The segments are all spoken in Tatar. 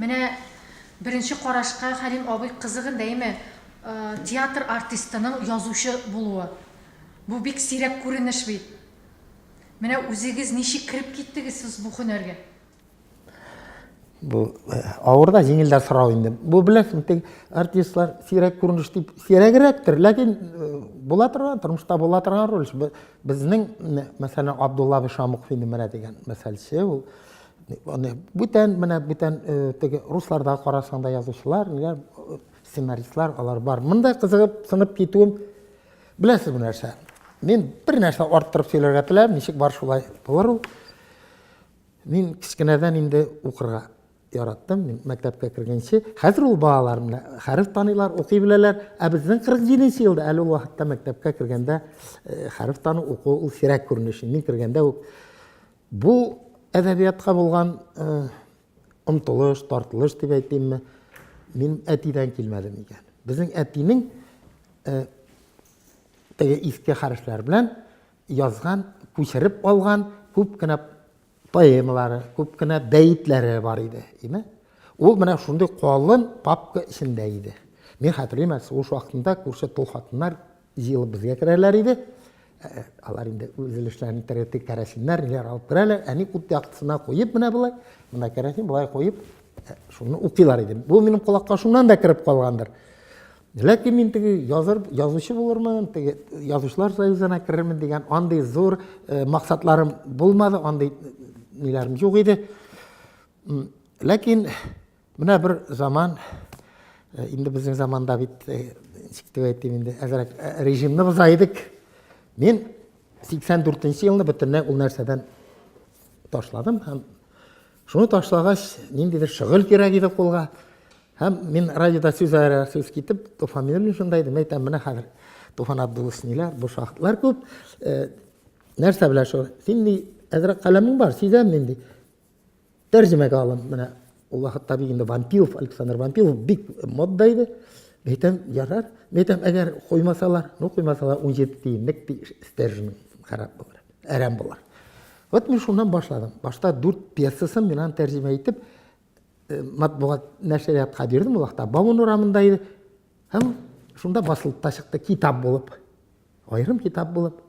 Менә беренче карашка Хәлим абый кызык инде, әйме? Театр артистының язучы булуы. Бу бик сирәк күренеш бит. Менә үзегез ничек кереп киттегез сез бу һөнәргә? Бу э, авыр да, җиңел дә сорау инде. Бу беләсең, тик артистлар сирәк күренеш дип сирәгрәктер, ләкин э, була торган, тормышта була торган роль. Безнең, мәсәлән, Абдулла Бишамук фильмына дигән мәсәлче ул Аны бүтән менә бүтән э, теге русларда карасаң да язучылар, ниләр э, сценаристлар алар бар. Монда кызыгып сынып китүем беләсез бу нәрсә. Мин бер нәрсә арттырып сөйләргә теләм, ничек бар шулай булыр ул. Мин кечкенәдән инде укырга яраттым, мин мәктәпкә кергәнче. Хәзер ул балалар менә хәреф таныйлар, укый беләләр. Ә безнең 47 елда әле ул вакытта мәктәпкә кергәндә э, хәреф тану уку ул сирәк күренеш. Мин кергәндә үк Бу әдәбиятка булган омтылыш, тартылыш дип әйтимме, мин әтидән килмәде микән? Безнең әтинең теге иске хәрефләр белән язган, күчереп алган күп кенә поэмалары, күп кенә бәетләре бар иде. Име? Ул менә шундый калын папка эчендә иде. Мин хәтерлим, ул вакытында күрше тол хатыннар җыелып безгә керәләр иде. Ә, алар инде үз өлешләрен итәргә тик кәрәсиннәр, ниләр алып керәләр. Әни ут яктысына куеп менә болай, менә кәрәсин болай куеп, ә, шуны укыйлар иде. Бу минем колакка шуннан да кереп калгандыр. Ләкин мин теге языр, язучы булырмын, теге язучылар союзына керермен дигән андый зур э, максатларым булмады, андый ниләрем юк иде. Ләкин Менә бер заман, инде безнең заманда бит, ничек дип әйтим инде, әзрәк режимны боза идек. Мин 84 елны бөтенләй ул нәрсәдән ташладым һәм шуны ташлагач, ниндидер шөгыль кирәк иде кулга. Һәм мин радиода сүз арасында сүз китеп, Туфан Юрьевич шунда идем, әйтәм, менә хәзер Туфан Абдуллович ниләр, бу шахтлар күп. Нәрсә белән шул? Син ни әзрәк каләмең бар, сизәм нинди. Тәрҗемәгә алын, менә ул вакытта бит инде Вампилов, Александр Вампилов бик модда иде. Әйтәм, ярар. Әйтәм, әгәр куймасалар, ну куймасалар 17 тиенлек стержен харап булыр, әрәм булыр. Вот мин шуннан башладым. Башта 4 пьесасын мин аны тәрҗемә итеп э, матбугат нәшриятка бирдем ул вакытта. Баун урамында иде. Һәм шунда басылып та чыкты китап булып. Аерым китап булып.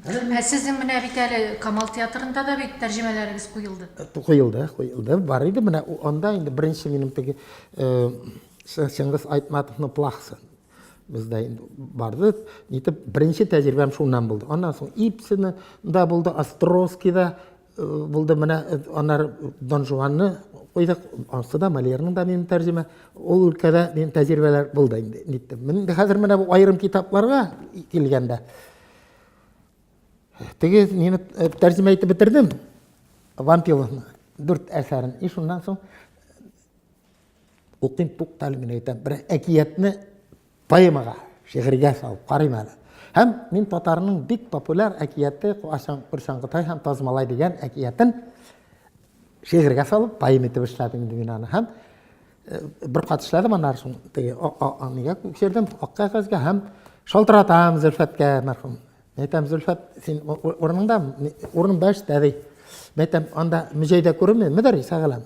Ә сезнең менә бит әле Камал театрында да бит тәрҗемәләрегез куелды. Куелды, куелды. Бар иде менә анда инде беренче минем теге Чыңгыз Айтматовның плахсы бездә инде барды. Нитеп беренче тәҗрибәм шуннан булды. Аннан соң Ипсина да булды, Островскийда Булды менә аннары Дон Жуанны куйдык, ансы да Мольерның да минем тәрҗемә. Ул өлкәдә минем тәҗрибәләр булды инде, ниттем. Мин инде хәзер менә бу аерым китапларга килгәндә, теге мине тәрҗемә итеп бетердем, Вампиловны, дүрт әсәрен. И шуннан соң укыйм, туктале, мин әйтәм, бер әкиятне Поэмага, шигырьгә салып карыйм әле. Һәм мин татарның бик популяр әкияте Куачаң-Курчаң Кытай һәм Таз малай дигән әкиятен шигырьгә салып поэма итеп эшләдем инде мин аны. Һәм э, бер кат эшләдем, аннары шуны теге нигә күчердем, ак кәгазьгә һәм шалтыратам Зөлфәткә мәрхүм. Әйтәм, Зөлфәт, син урыныңда, урын бәш тәби. Әйтәм, анда мөҗәйдә күренми, мөдәрис әгәләм.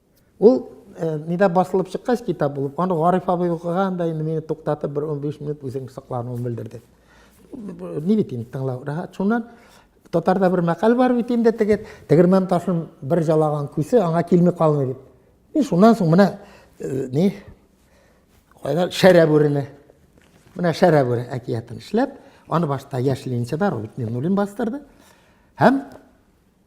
Ул нидә басылып чыккач китап булып, аны Гариф абый укыган да инде мине туктатып бер 15 минут үзен соклануын белдерде. Ни бит инде тыңлау рәхәт. Шуннан татарда бер мәкаль бар бит инде теге тегермән ташын бер жалаган күсе аңа килми калмый дип. Мин шуннан соң менә ни кайда шәрә бүрене. Менә шәрә бүре әкиятен эшләп, аны башта яшь ленинчыда Роберт Миннулин бастырды. Һәм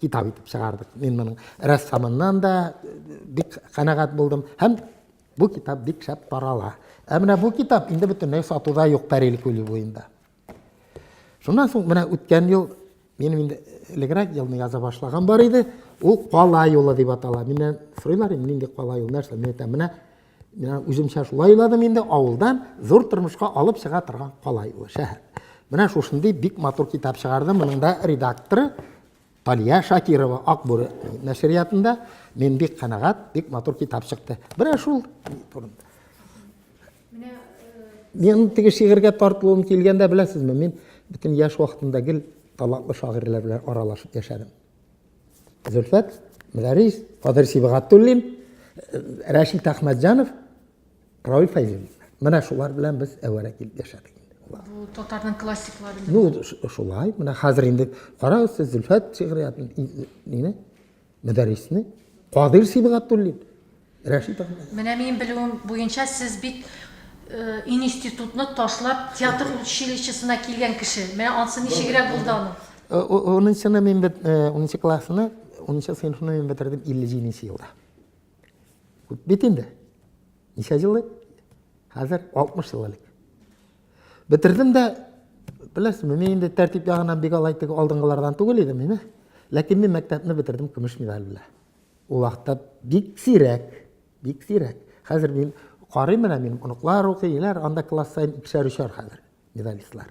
китап итеп чыгардык. Мин моның рәссамыннан да бик канәгать булдым һәм бу китап бик шәп тарала. Ә менә бу китап инде бөтенләй сатуда юк Пәрил күле буенда. Шуннан соң менә үткән ел минем инде элегрәк елны яза башлаган бар иде. Ул кала юлы дип атала. Миннән сорыйлар инде нинди кала юл, нәрсә, мин әйтәм, менә Менә үземчә шулай уйладым инде, авылдан зур тормышка алып чыга торган калай ул шәһәр. Менә шушындый бик матур китап чыгарды. Моның да редакторы Талия Шакирова Акбүре нәшриятында. Мин бик канәгать, бик матур китап чыкты. Менә шул турында. Менә мин теге шигырьгә тартылуым килгәндә беләсезме, мин бөтен яшь вакытымда гел талантлы шагыйрьләр белән аралашып яшәдем. Зөлфәт Мөдәрис, Кадер Сибгатуллин, Рәшит Әхмәтҗанов, Равил Фәйзуллин. Менә шулар белән без әвәрә килеп яшәдек. Бу татарның классиклары. Ну, шулай. Менә хәзер инде карагыз сез Зөлфәт шигъриятен, мине, Мөдәрисне, Кадир Сибгатуллин. Рәшит абый. Менә минем белүем буенча сез бит иниститутны ташлап театр училищесына килгән кеше. Менә ансы ничегрәк булды аның? Унынчыны мин бит, унынчы классны, унынчы сыйныфны мин бетердем 57 елда. Күп бит инде. Ничә ел элек? Хәзер 60 ел элек. Бетердем дә, беләсезме, мин инде тәртип ягыннан бик алай теге алдынгылардан түгел идем мин. Ләкин мин мәктәпне бетердем көмеш медаль белән. Ул вакытта бик сирәк, бик сирәк. Хәзер мин карыйм менә минем оныклар укыйлар, анда класс саен икешәр өчәр хәзер медалистлар.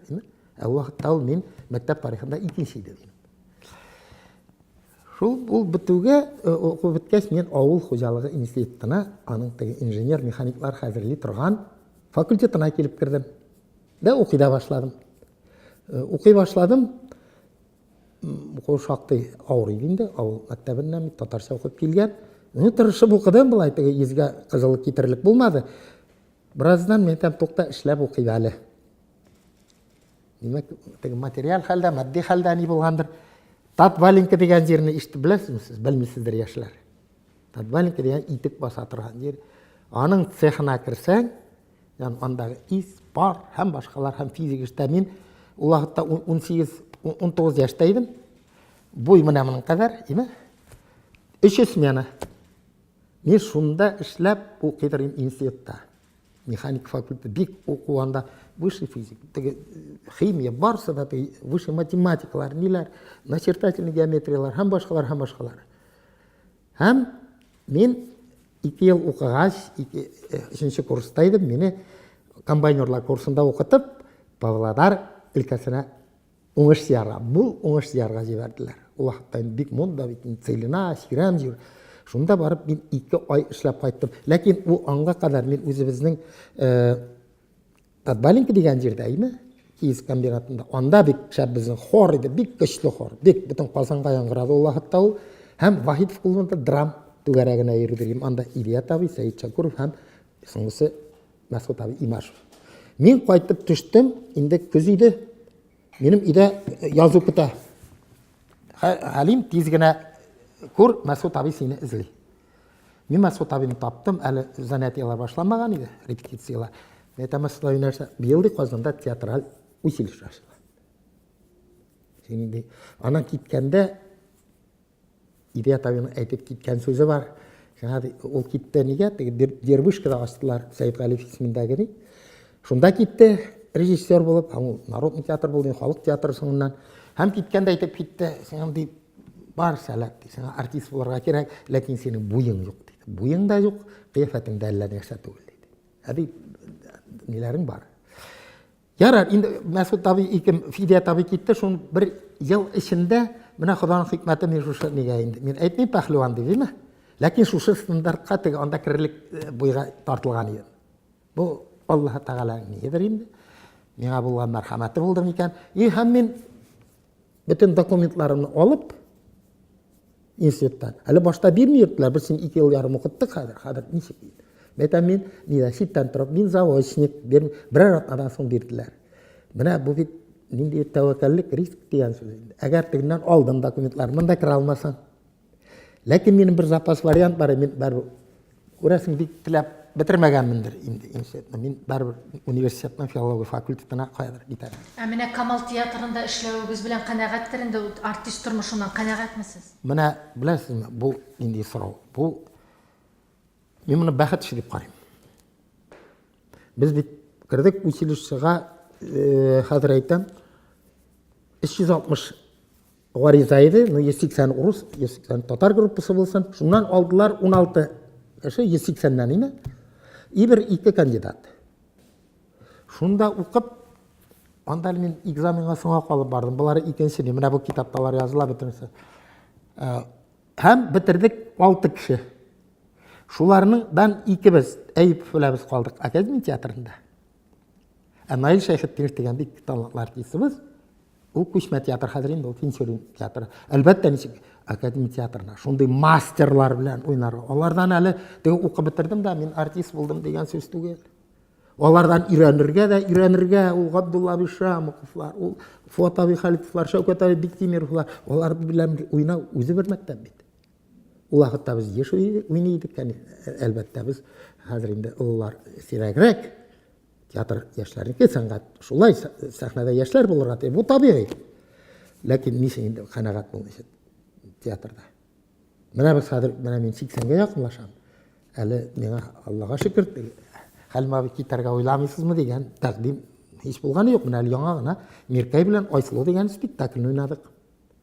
Ә ул вакытта ул мин мәктәп тарихында икенче иде дим. Шул ул бетүгә э, уку беткәч мин авыл хуҗалыгы институтына, аның теге инженер механиклар хәзерли торган факультетына килеп кердем. Дә укый да башладым. Э, укый башладым. Укуы шактый авыр иде инде, авыл мәктәбеннән бит татарча укып килгән. Ну, тырышып укыдым, былай теге йөзгә кызыллык китерерлек булмады. Бераздан мин әйтәм, тукта, эшләп укыйм әле. Димәк, теге материаль хәлдә, матди хәлдә ни булгандыр. Татваленко дигән җирне ишетеп беләсезме сез? Белмисездер, яшьләр. Татваленко дигән итек баса торган җир. Аның цехына керсәң, Янь андагы ис, пар һәм башкалар һәм физик эштә мин ул вакытта 18-19 яшьтә идем. Буй менә моның кадәр, име? Өч смена. Мин шунда эшләп укый торган институтта. Механик факультеты бик уку анда высший физик, теге химия барсы да теге высший математикалар, ниләр, начертательный геометриялар һәм башкалар һәм башкалар. Һәм мин ике ел укыгач, ике, өченче курста идем, мине комбайнерлар курсында укытып, Павлодар өлкәсенә уңыш сыярга, бу уңыш сыярга җибәрделәр. Ул вакытта инде бик монда бит, Целина, Сирәм җир. Шунда барып мин ике ай эшләп кайттым. Ләкин ул аңга кадәр мин үзебезнең Подваленка дигән җирдә иде, киез комбинатында. Анда бик шәп безнең хор иде, бик көчле хор. Бик бөтен Казанга яңгырады ул вакытта ул. Һәм Вахитов клубында драм түгәрәгенә йөрдем. Анда Илья Тави, Сәет Шакуров һәм соңгысы Мәсгут Тави Имашев. Мин кайтып төштем, инде көз иде. Минем өйдә э, язу көтә. Хәлим тиз генә күр, Мәсгут Тави сине эзли. Мин Мәсгут абыйны таптым, әле занятиелар башламаган иде, репетициялар. Мин әйтәм, Мәсгут абый нәрсә, быел ди Казанда театраль училище ачыла. Син ди, анан киткәндә Ирият абыйның әйтеп киткән сүзе бар. Шуңа ди, ул китте нигә? Теге Дербышкада астылар Сәйд Галиев исемендәге ни. Шунда китте режиссер булып, һәм ул народный театр булды, халык театры соңыннан. Һәм киткәндә әйтеп китте, син ди, Бар, сәләт, ди, сиңа артист булырга кирәк, ләкин синең буең юк, диде. Буең да юк, кыяфәтең дә әллә нәрсә түгел, диде. Ә бит ниләрең бар. Ярар, инде Мәсгут абый икем Фидия табый китте, шул бер ел эчендә менә Ходаның хикмәте мин шушы нигә инде. Мин әйтмим пәһлеван дип, димме? Ләкин шушы стандартка теге анда керерлек э, буйга тартылган идем. Бу Аллаһ Тәгаләнең нигедер инде. Миңа булган мәрхәмәте булды микән? И һәм мин Бөтен документларымны алып, институттан. Әле башта бирми йөрттеләр, без син ике ел ярым укыттык хәзер, хәзер ничек дип. Мин әйтәм, мин нидә читтән торып, мин заочник, бер, берәр атнадан соң бирделәр. Менә бу бит нинди тәвәккәллек, риск дигән сүз инде. Әгәр тегеннән алдым документлар, монда керә алмасаң, Ләкин минем бер запас вариант бар, мин бер күрәсең бик теләп бетермәгәнмендер инде институтны. Мин барыбер университетның филология факультетына каядыр китәм. Ә менә Камал театрында эшләвегез белән канәгатьтер инде, артист тормышыннан канәгатьмесез? Менә беләсезме, бу нинди сорау? Бу мин моны бәхет эше дип карыйм. Без бит кердек училищега, э, хәзер әйтәм, 360 Гариза иде, ну, 180 урыс, 180 татар группасы булсын. Шуннан алдылар 16 кеше, 180-нән име? И бер ике кандидат. Шунда укып, анда мин экзаменга соңа калып бардым. Болары икенче, менә бу китапталар языла бөтенесе. Ә, һәм бетердек 6 кеше. Шуларның дан икебез Әйп фләбез калдык академия театрында. Ә Наил Шәйхетдинов дигән бик талантлы артистыбыз. Ул күчмә театр хәзер инде ул Тинчурин театры. Әлбәттә, ничек академия театрына шундый мастерлар белән уйнарга. Алардан әле теге укып бетердем дә, мин артист булдым дигән сүз түгел. Алардан өйрәнергә дә, өйрәнергә ул Габдулла абый Шамовлар, ул Фот абый Халитовлар, Шәүкәт абый Биктимировлар, алар белән уйнау үзе бер мәктәп бит. Ул вакытта без еш уйный идек, әлбәттә, без хәзер инде олылар сирәгрәк. Театр яшьләрнеке, сәнгать шулай, сәхнәдә яшьләр булырга тиеш. Бу табигый. Ләкин ничек инде канәгать булу өчен театрда. Менә без хәзер, менә мин 80-гә якынлашам. Әле миңа Аллага шөкер, Хәлим абый китәргә уйламыйсызмы дигән тәкъдим һич булганы юк. Менә әле яңа гына Миркәй белән Айсылу дигән спектакльне уйнадык.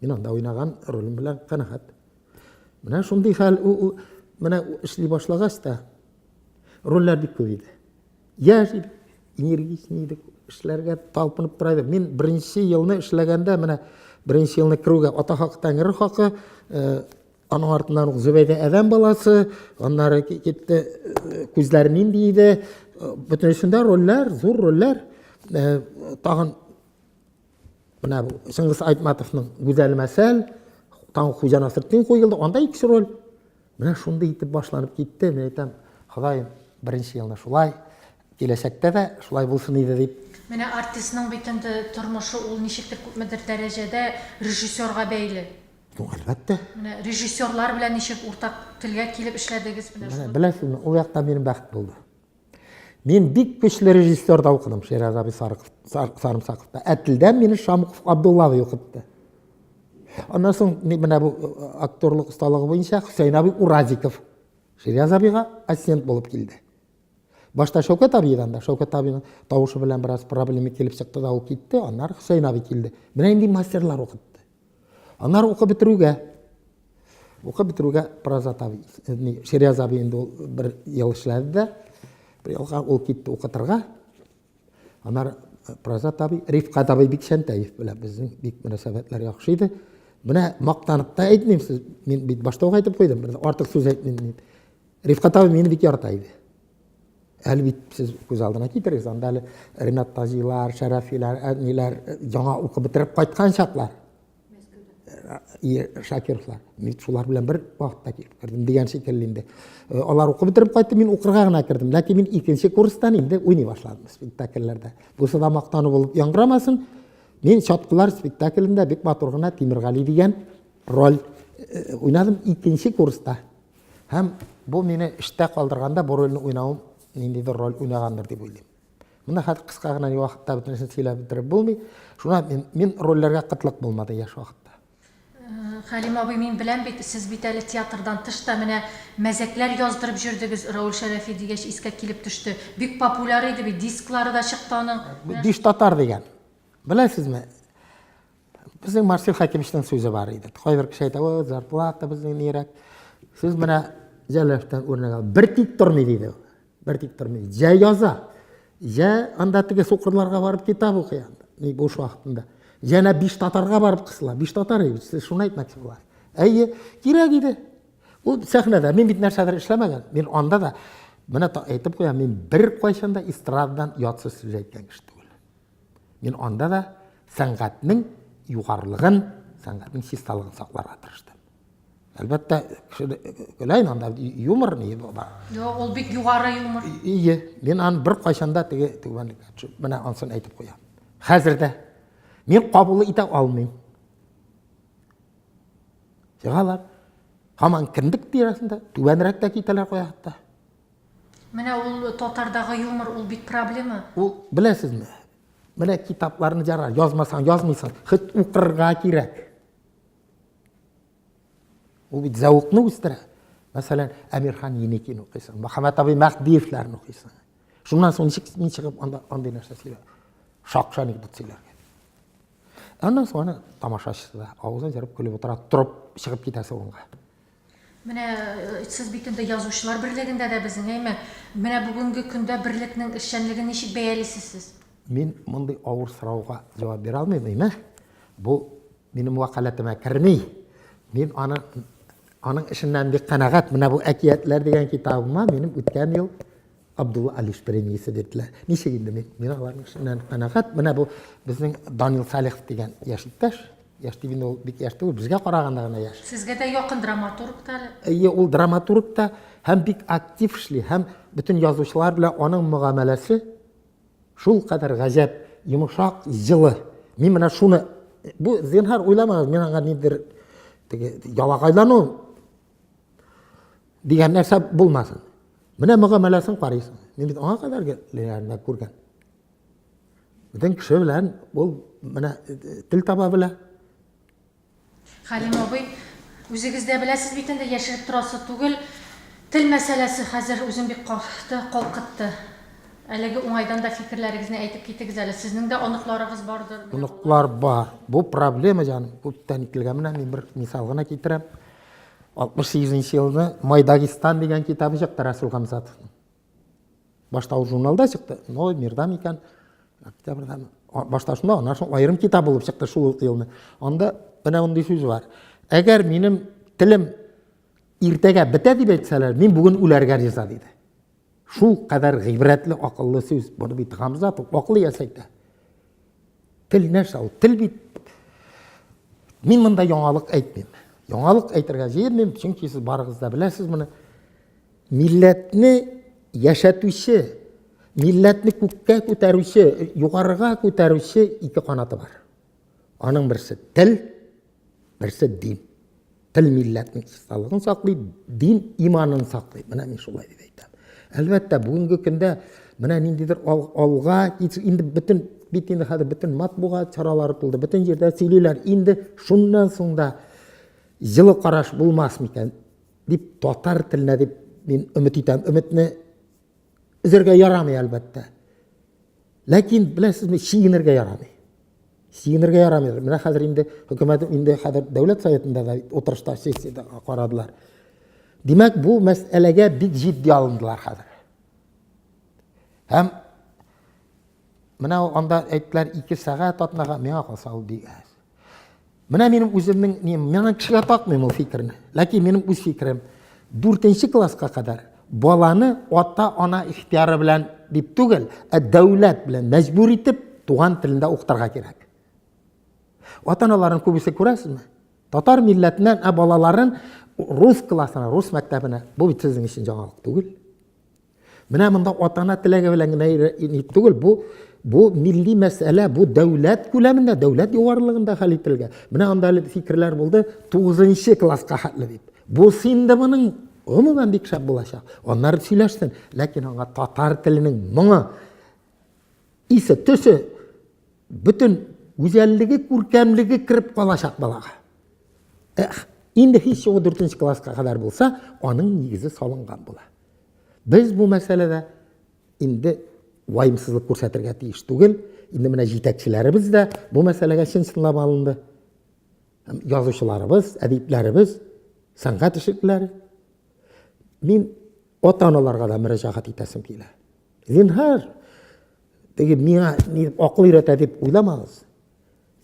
Мин анда уйнаган ролем белән канәгать. Менә шундый хәл, менә эшли башлагач та рольләр бик күп иде. Яшь идек, энергичный идек, эшләргә талпынып тора идек. Мин беренче елны эшләгәндә, менә беренче елны керүгә ата хакы, тәңре хакы, э, аның артыннан ук Зөбәйдә әдәм баласы, аннары китте, э, күзләр нинди иде, э, бөтенесендә рольләр, зур рольләр, э, тагын менә Чыңгыз Айтматовның Гүзәл мәсәл, тагын Хуҗа Насретдин куелды, анда икенче роль. Менә шундый итеп башланып китте. Мин әйтәм, Ходаем, беренче елны шулай, киләчәктә дә шулай булсын иде дип. Менә артистның бит инде тормышы ул ничектер күпмедер дәрәҗәдә режиссерга бәйле. Ну, әлбәттә. Менә режиссерлар белән ничек уртак телгә килеп эшләдегез менә шуны. Беләсезме, ул якта минем бәхет булды. Мин бик көчле режиссерда укыдым, Шираз абый Сарымсаковта. Ә телдән мине Шамуков Абдулла абый укытты. Аннан соң менә бу э, актерлык осталыгы буенча Хөсәйн абый Уразиков Шираз абыйга ассистент булып килде. Башта Шәүкәт абыйдан да, Шәүкәт абыйның тавышы белән бераз проблема килеп чыкты да ул китте, аннары Хөсәйн абый килде. Менә инде мастерлар укытты. Аннары укып бетерүгә, укып бетерүгә Прозат абый, ни, Ширяз абый инде ул бер ел эшләде дә, бер елга ул китте укытырга. Аннары э, Прозат абый, Рифкат абый Бикчәнтәев белән безнең бик мөнәсәбәтләр яхшы иде. Менә мактанып та әйтмим, сез, мин бит башта ук әйтеп куйдым, бер артык сүз әйтмим дип. Рифкат абый мине бик ярата иде. Әле бит сез күз алдына китерегез, анда әле Ренат Тазилар, Шәрәфиләр, әниләр яңа укып бетереп кайткан чаклар. Шакировлар. Мин шулар белән бер вакытта килеп кердем дигән шикелле инде. Алар укып бетереп кайтты, мин укырга гына кердем. Ләкин мин икенче курстан инде уйный башладым спектакльләрдә. Бусы да мактану булып яңгырамасын. Мин Чаткылар спектаклендә бик матур гына Тимиргали дигән роль уйнадым икенче курста. Һәм бу мине эштә калдырганда бу рольне уйнавым ниндидер роль уйнагандыр дип уйлыйм. Менә хәзер кыска гына вакытта бөтенесен сөйләп бетереп булмый. Шуна мин, мин рольләргә кытлык булмады яшь вакытта. Э, Хәлим абый, мин беләм бит, сез бит әле театрдан тыш та менә мәзәкләр яздырып җөрдегез, Рауль Шәрәфи дигәч искә килеп төште. Бик популяр иде бит, дисклары да чыкты аның. Диш татар дигән. Беләсезме? Безнең Марсель Хәкимовичның сүзе бар иде. Кайбер кеше әйтә, "О, зарплата безнең нирәк?" Сез менә Җәләфтән үрнәк алып, бер тик тормый диде. Бер тик тормый. Җә яза, җә анда теге сукырларга барып китап укый анда, ни буш вакытында. Җәнә биш татарга барып кысыла. Биш татар иде, сез шуны әйтмәкче буласыз. Әйе, кирәк иде. Ул сәхнәдә мин бит нәрсәдер эшләмәгән. Мин анда да менә әйтеп куям, мин бер кайчан да эстрададан ятсыз сүз әйткән кеше түгел. Мин анда да сәнгатьнең югарылыгын, сәнгатьнең чисталыгын сакларга тырыштым. Әлбәттә, көләйн анда юмор ни бар. Юк, ул бик югары юмор. Ие, мин аны бер кайчанда теге түбәнлеккә төшеп, менә ансын әйтеп куям. Хәзер дә мин кабул итә алмыйм. Чыгалар. Һаман кендек тирәсендә, түбәнрәк тә китәләр куя хәтта. Менә ул татардагы юмор, ул бит проблема. Ул, беләсезме, менә китапларны җара, язмасаң, язмыйсың, хет укырга кирәк. Ул бит зәвыкны үстерә. Мәсәлән, Әмирхан Еникин укыйсың, Мөхәммәт абый Мәһдиевләрне укыйсың. Шуннан соң ничек мин чыгып анда андый нәрсә сөйләп, шакшы анекдот сөйләргә. Аннан соң аны тамашачысы да авызын җырып көлеп утыра, торып чыгып китәсе унга. Менә сез бит инде язучылар берлегендә дә безнең, әйме? Менә бүгенге көндә берлекнең эшчәнлеген ничек бәялисез сез? Мин мондый авыр сорауга җавап бирә алмыйм, әйме? Бу минем вәкаләтемә керми. Мин аны аның эшеннән бик канәгать. Менә бу әкиятләр дигән китабыма минем үткән ел Абдулла Алиш премиясе бирделәр. Ничек инде мин, мин аларның эшеннән канәгать. Менә бу безнең Данил Салихов дигән яшь иптәш. Яшь дип инде ул бик яшь түгел, безгә караганда гына яшь. Сезгә дә якын драматург та әле. Әйе, ул драматург та һәм бик актив эшли, һәм бөтен язучылар белән аның мөгамәләсе шул кадәр гаҗәп, йомшак, җылы. Мин менә шуны бу зинһар уйламагыз, мин аңа ниндидер теге ялагайлану дигән нәрсә булмасын. Менә мөгамәләсен карыйсың. Мин бит аңа кадәр генә күргән. Бөтен кеше белән ул менә тел таба белә. Хәлим абый, үзегез дә беләсез бит инде, яшереп торасы түгел. Тел мәсьәләсе хәзер үзен бик кахты, калкытты. Әлеге уңайдан да фикерләрегезне әйтеп китегез әле. Сезнең дә оныкларыгыз бардыр. Оныклар бар. Бу проблема җаным, күптән ителгән. Менә мин бер мисал гына китерәм. 68 нче елны Май Дагестан дигән китабы чыкты Расул Хамзатовның. Башта ул журналда чыкты, но мирда микән октябрьдә башта шунда, аннан соң аерым китап булып чыкты шул ук елны. Анда менә мондый сүз бар. Әгәр минем телем иртәгә бетә дип әйтсәләр, мин бүген үләргә риза диде. Шулкадәр гыйбрәтле, акыллы сүз бу бит, Гамзат, акыллы иясе әйтә. Тел нәрсә ул? Тел бит Мин монда яңалык әйтмим. Яңалык әйтергә җыенмыйм, чөнки сез барыгыз да беләсез моны. Милләтне яшәтүче, милләтне күккә күтәрүче, югарыга күтәрүче ике канаты бар. Аның берсе тел, берсе – дин. Тел милләтнең чисталыгын саклый, дин иманын саклый. Менә мин шулай дип әйтәм. Әлбәттә, бүгенге көндә менә ниндидер алга, инде бөтен бит инде хәзер бөтен матбугат чаралары тулды, бөтен җирдә сөйлиләр. Инде шуннан соң да җылы караш булмас микән дип, татар теленә дип мин өмет итәм. Өметне өзәргә ярамый, әлбәттә. Ләкин, беләсезме, чигенергә ярамый. Чигенергә ярамый. Менә хәзер инде хөкүмәт инде хәзер дәүләт советында да утырышта сессиядә карадылар. Димәк, бу мәсьәләгә бик җитди алындылар хәзер. Һәм менә анда әйттеләр, ике сәгать атнага, миңа калса ул бик әз. Менә минем үземнең нем, миңа кешегә такмыйм ул фикерне. Ләкин минем үз фикерем, 4 класска кадәр баланы ата-ана ихтияры белән дип түгел, ә дәүләт белән мәҗбүр итеп туган телендә укытырга кирәк. Ата-аналарын күбесе күрәсезме? Татар милләтеннән ә балаларын рус классына, рус мәктәбенә. Бу бит сезнең өчен җаналык түгел. Менә монда ата-ана теләге белән генә ни түгел, бу бу милли мәсьәлә, бу дәүләт күләмендә, дәүләт югарылыгында хәл ителгән. Менә анда әле фикерләр булды, 9 класска хәтле дип. Бу инде моның гомумән бик шәп булачак. Аннары сөйләшсен, ләкин аңа татар теленең моңы, исе, төсе, бөтен гүзәллеге, күркәмлеге кереп калачак балага. Инде һич югы дүртенче класска кадәр булса, аның нигезе салынган була. Без бу мәсьәләдә инде ваемсызлык күрсәтергә тиеш түгел. Инде менә җитәкчеләребез дә бу мәсьәләгә чын чынлап алынды. Язучыларыбыз, әдипләребез, сәнгать эшлеклеләре. Мин ата-аналарга да мөрәҗәгать итәсем килә. Зинһар, теге миңа акыл өйрәтә дип уйламагыз.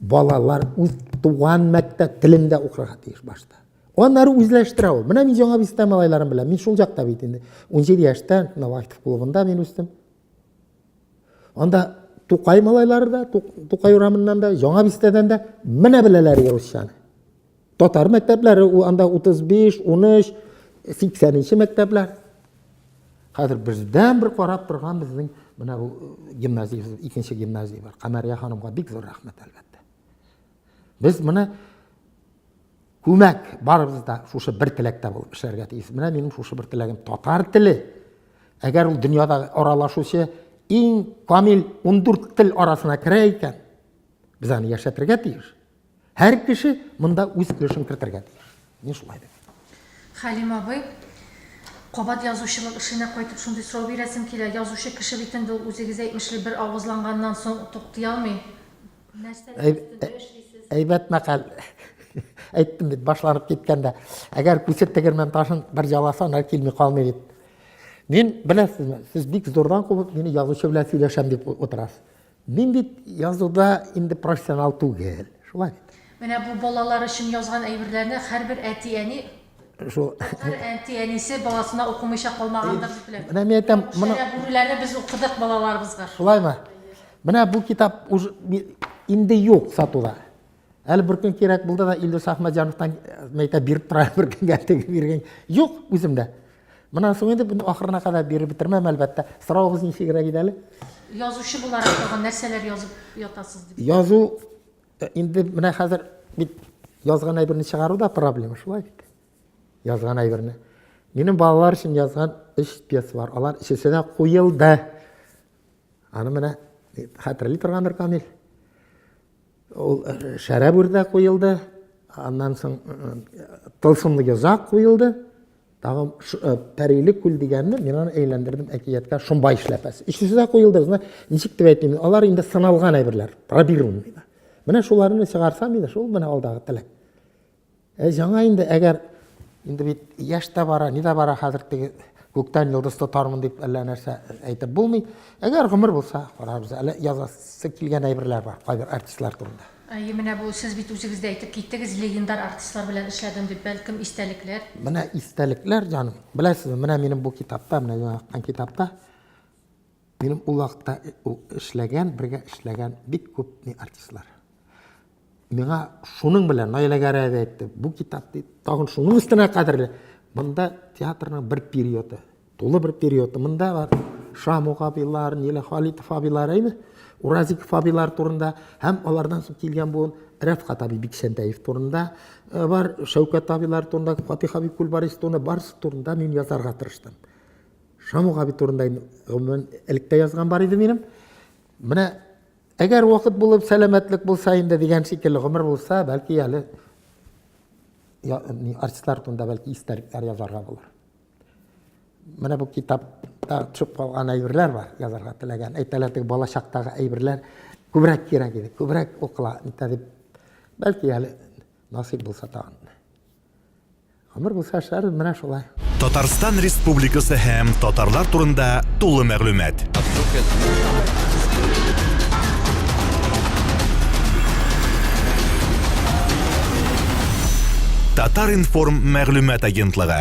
Балалар үз туган мәктәп телендә укырга тиеш башта. Аннары үзләштерә ул. Менә мин Яңа Бистә малайларын беләм. Мин шул җакта бит инде. 17 яшьтә Навахтов клубында мин үстем. Анда Тукай малайлары да, Тукай урамыннан да, Яңа Бистәдән дә менә беләләр русчаны. Татар мәктәпләре анда 35, 13, 80 нче мәктәпләр. Хәзер бездән бер карап торган безнең менә бу э, гимназия, икенче гимназия бар. Камәрия ханымга бик зур рәхмәт әлбәттә. Без менә күмәк барыбыз да шушы бер теләктә булып эшләргә тиеш. Менә минем шушы бер теләгем татар теле. Әгәр ул дөньяда аралашучы иң камил 14 тел арасына керә икән, без аны яшәтергә тиеш. Һәр кеше монда үз өлешен кертергә тиеш. Мин шулай дим. Хәлим абый, кабат язучылык эшенә кайтып шундый сорау бирәсем килә. Язучы кеше бит инде ул, үзегез әйтмешли, бер авызланганнан соң туктый алмый. Нәрсәләр өстендә эшлисез? Әйбәт мәкаль. Әйттем бит, башланып киткәндә, әгәр күсеп тегермән ташын бер яласа, ана килми калмый бит. Мин, беләсезме, сез бик зурдан кубып, мине язучы белән сөйләшәм дип утырасыз. Мин бит язуда инде профессионал түгел, шулай бит. Менә бу балалар өчен язган әйберләрне һәрбер әти-әни шул әти-әнисе баласына укымыйча калмагандыр дип беләм. Менә мин әйтәм, моны бүреләрне без укыдык балаларыбызга. Шулаймы? Менә бу китап инде юк сатуда. Әле бер көн кирәк булды да Илдус Ахмәдҗановтан мәйтә биреп тора, бер көнгә тегеп биргән. Юк, үземдә. Монан соң инде буны ахырына кадәр биреп бетермәм, әлбәттә. Соравыгыз ничегрәк иде әле? Язучы буларак тагын нәрсәләр язып ятасыз дип. Язу э, инде менә хәзер бит язган әйберне чыгару да проблема, шулай бит. Язган әйберне. Минем балалар өчен язган өч пьеса бар. Алар өчесе дә куелды. Аны менә э, хәтерли торгандыр Камил. Ул шәрә бүрдә куелды, аннан соң тылсымлы йозак куелды, тагын пәриле күл дигәнне мин аны әйләндердем әкияткә шомбай эшләпәсе. Өчесе дә куелды, ничек дип әйтим, алар инде сыналган әйберләр, пробированный. Менә шуларны чыгарсам инде, шул менә алдагы теләк. Әй, җана инде, әгәр инде бит яшь тә бара, ни дә бара, хәзер теге күктән йолдыз тотармын дип әллә нәрсә әйтеп булмый. Әгәр гомер булса, карарбыз. Әле язасы килгән әйберләр бар, кайбер артистлар турында. Әйе, менә бу сез бит үзегез дә әйтеп киттегез, легендар артистлар белән эшләдем дип, бәлкем, истәлекләр? Менә истәлекләр, җаным. Беләсезме, менә минем бу китапта, менә миңа аткан китапта минем ул вакытта эшләгән, бергә эшләгән бик күп артистлар. Миңа шуның белән Наиләгәрәй әби әйтте, бу китап дип, тагын шуның өстенә кадерле. Монда театрның бер периоды, тулы бер периоды. Монда бар Шамук абыйлар, Ниле Халитов абыйлар, әйме? Уразиков абыйлар турында һәм алардан соң килгән буын Рәфкать абый Бикчәнтәев турында э, бар, Шәүкәт абыйлар турында, Фатих абый Күлбарис турында, барысы турында мин язарга тырыштым. Шамук абый турында инде гомумән элек тә язган бар иде минем. Менә Әгәр вакыт булып, сәламәтлек булса инде дигән шикелле гомер булса, бәлки әле артистлар турында бәлки истәлекләр язарга булыр. Менә бу китапта төшеп калган әйберләр бар, язарга теләгән. Әйтәләр, теге бала чактагы әйберләр күбрәк кирәк иде, күбрәк укыла, дип. Бәлки әле насыйп булса тагын. Гомер булса эшләрбез менә шулай. Татарстан Республикасы һәм татарлар турында тулы мәгълүмат. Татар-информ мәгълүмат агентлыгы.